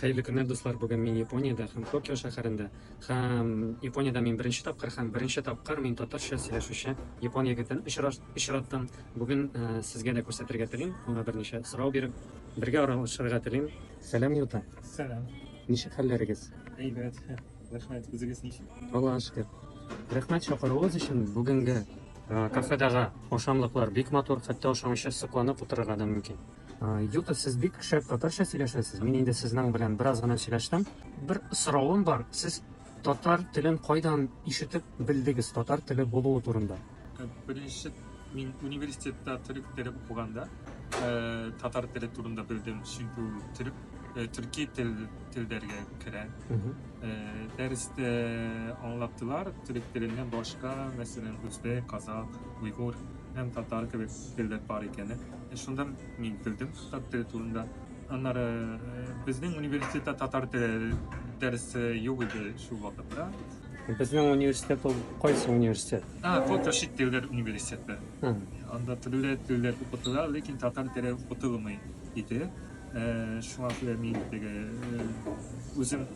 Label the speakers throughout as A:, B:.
A: Хәерле көннәр дуслар, бүген мин Япониядә һәм Токио шәһәрендә. Һәм Япониядә мин беренче тапкыр һәм беренче тапкыр мин татарча сөйләшүче япон егетен очраттым. Бүген э, сезгә дә күрсәтергә телим, аңа берничә сорау биреп, бергә аралашырга телим. Сәлам, Юта. Сәлам. Ничек хәлләрегез? Әйбәт. Рәхмәт. Үзегез ничек? Аллага шөкер. Рәхмәт чакыруыгыз өчен. Бүгенге э, кафедагы ашамлыклар бик матур, хәтта ашамыйча сокланып утырырга да мөмкин. Юта, сез бик шәп татарча сөйләшәсез. Мин инде сезнең белән бераз гына сөйләштем. Бер соравым бар. Сез татар телен кайдан ишетеп белдегез? Татар теле булуы турында. Э, беренче мин университетта төрек теле укыганда э, татар теле турында белдем. Чөнки ул төрек э, төрки тел телдәргә керә. Дәрестә аңлаттылар төрек теленнән башка, мәсәлән, үзбәк, казах, уйгур һәм татар кебек телләр бар икәнен. Шунда мин көлдем татар теле турында. Аннары безнең университетта татар теле дәресе юк иде шул вакытта. Безнең университет ул кайсы университет? А, вот чит телләр университеты. Анда төрле телләр укытыла, ләкин татар теле укытылмый иде. Шуңа күрә мин теге үзем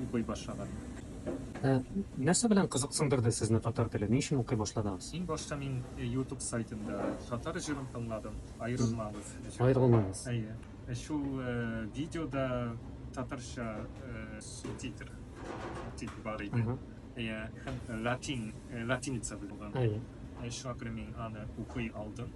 A: укый башлаган. Нәрсә белән кызыксындырды сезне татар теле? Ни өчен укый башладыгыз? Иң башта мин ютуб сайтында татар җырын тыңладым, Аерылмагыз җыры. Аерылмагыз. Әйе. Шул видеода татарча субтитр дип бар иде. Әйе. Һәм латин, латиница булган. Әйе. Шуңа күрә мин аны укый алдым.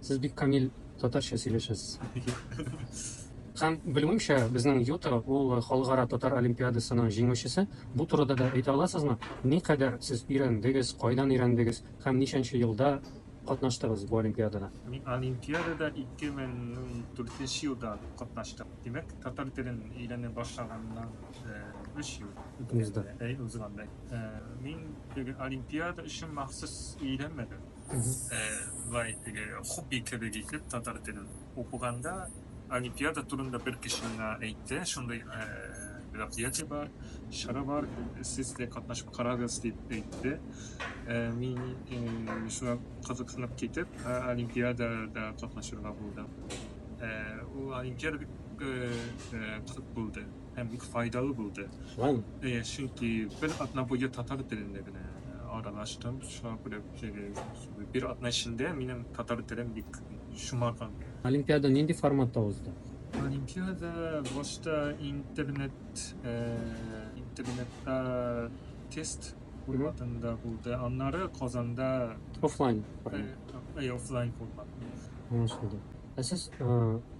A: Сез бик камил татарча сөйләшәсез. Һәм белүемчә, безнең Юта ул халыкара татар олимпиадасының җиңүчесе. Бу турыда да әйтә аласызмы? Никадәр сез өйрәндегез, кайдан өйрәндегез һәм ничәнче елда катнаштыгыз бу олимпиадада? Мин олимпиадада 2004 елда катнаштым. Димәк, татар телен өйрәнә башлаганнан 3 ел узган. Мин олимпиада өчен махсус өйрәнмәдем. Ә болай теге хобби кебек итеп татар телен укыганда олимпиада турында бер кеше миңа әйтте, шундый ә, мероприятие бар, чара бар, сез дә катнашып карагыз дип әйтте. Ә, мин ә, шуңа кызыксынып китеп, ә, олимпиадада катнашырга булдым. Ә, ул олимпиада бик ә, ә, кызык булды. һәм бик файдалы булды. Шулаймы? Әйе, чөнки бер атна буе татар телендә генә аралаштым. Шуңа күрә бер атна эчендә минем татар телем бик шомарган. Олимпиада нинди форматта узды? Олимпиада башта интернет интернетта тест форматында булды. Аннары Казанда офлайн формат. Әйе, офлайн формат. Аңлашылды. Ә сез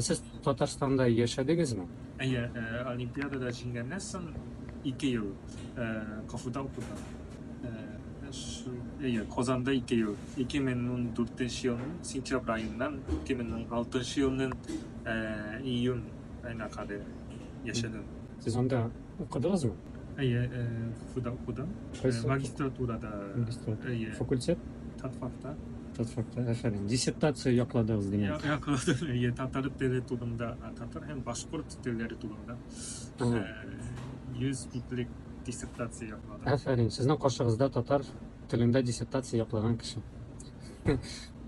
A: Сез Татарстанда яшәдегезме? Әйе, олимпиадада җиңгәннән соң ике ел КФУда укыдым. Әйе, Казанда ике ел. 2014 елның сентябрь аеннан 2016 елның июнь аена кадәр яшәдем. Сез анда укыдыгызмы? Әйе, КФУда укыдым. Магистратурада. Магистратура. Әйе. Факультет? Татфакта. Тот факта, афәрин. Диссертация якладыгыз димәк. Я, якладым, әйе, татар теле турында, татар һәм башкорт телләре турында Ага. э, 100 битлек диссертация якладым. Афәрин, сезнең каршыгызда татар телендә диссертация яклаган кеше.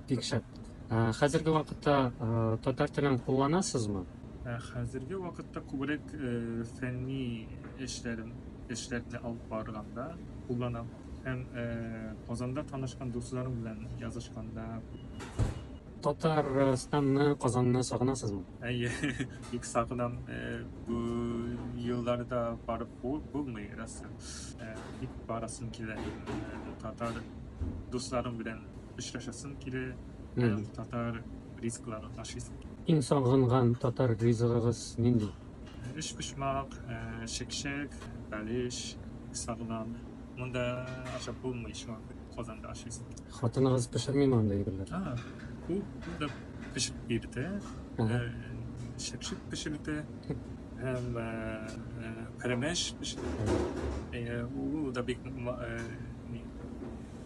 A: Бик шәп. Ә, Хәзерге вакытта ә, татар телен кулланасызмы? Ә Хәзерге вакытта күбрәк э, фәнни эшләрем эшләрне алып барганда кулланам. һәм Казанда танышкан дусларың белән язышканда? Татарстанны, Казанны сагынасызмы? Әйе, бик сагынам. Бу елларда барып булмый, расы. Бик барасым килә. Татар дусларым белән очрашасым килә. Татар ризыкларын ашыйсым килә. Иң сагынган татар ризыгыгыз нинди? Өчпочмак, чәкчәк, бәлеш сагынам. Монда ашап булмый шуңа Казанда ашыйсың. Хатыныгыз пешерми монда әйберләр? А, бу да пешеп бирде. Шәпшек пешерде. Һәм пәрәмәш пешерде. Ул да бик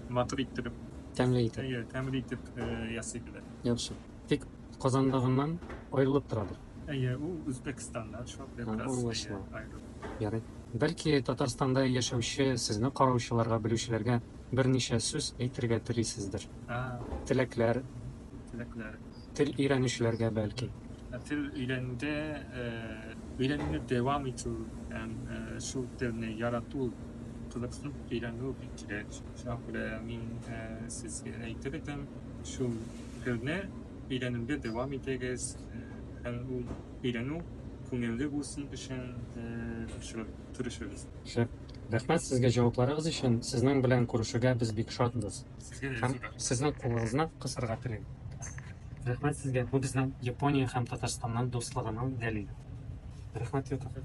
A: матур итеп. Тәмле итеп. Тәмле итеп ясый белә. Яхшы. Тик Казандагыннан аерылып торадыр. Әйе, ул Үзбәкстаннан шактый бераз Аңлашлы. аерылып. Ярый. Бәлки, Татарстанда яшәүче сезне караучыларга, белүчеләргә берничә сүз әйтергә телисездер? А, Теләкләр, теләкләр. тел өйрәнүчеләргә бәлки. Ә Тел өйрәнүдә, э, өйрәнүне дәвам итү һәм э, шул телне ярату, кызыксынып өйрәнү бик кирәк. Шуңа күрә мин э, сезгә әйтер идем, шул Сезне өйрәнүдә дәвам итегез һәм ул өйрәнү күңелле булсын өчен тырышыгыз. Шәп. Рәхмәт сезгә җавапларыгыз өчен. Сезнең белән күрешүгә без бик шатбыз. Сезгә дә зур рәхмәт. Сезнең кулыгызны кысырга телим. Рәхмәт сезгә, бу безнең Япония һәм Татарстанның дуслыгының дәлиле. Рәхмәт, Йота.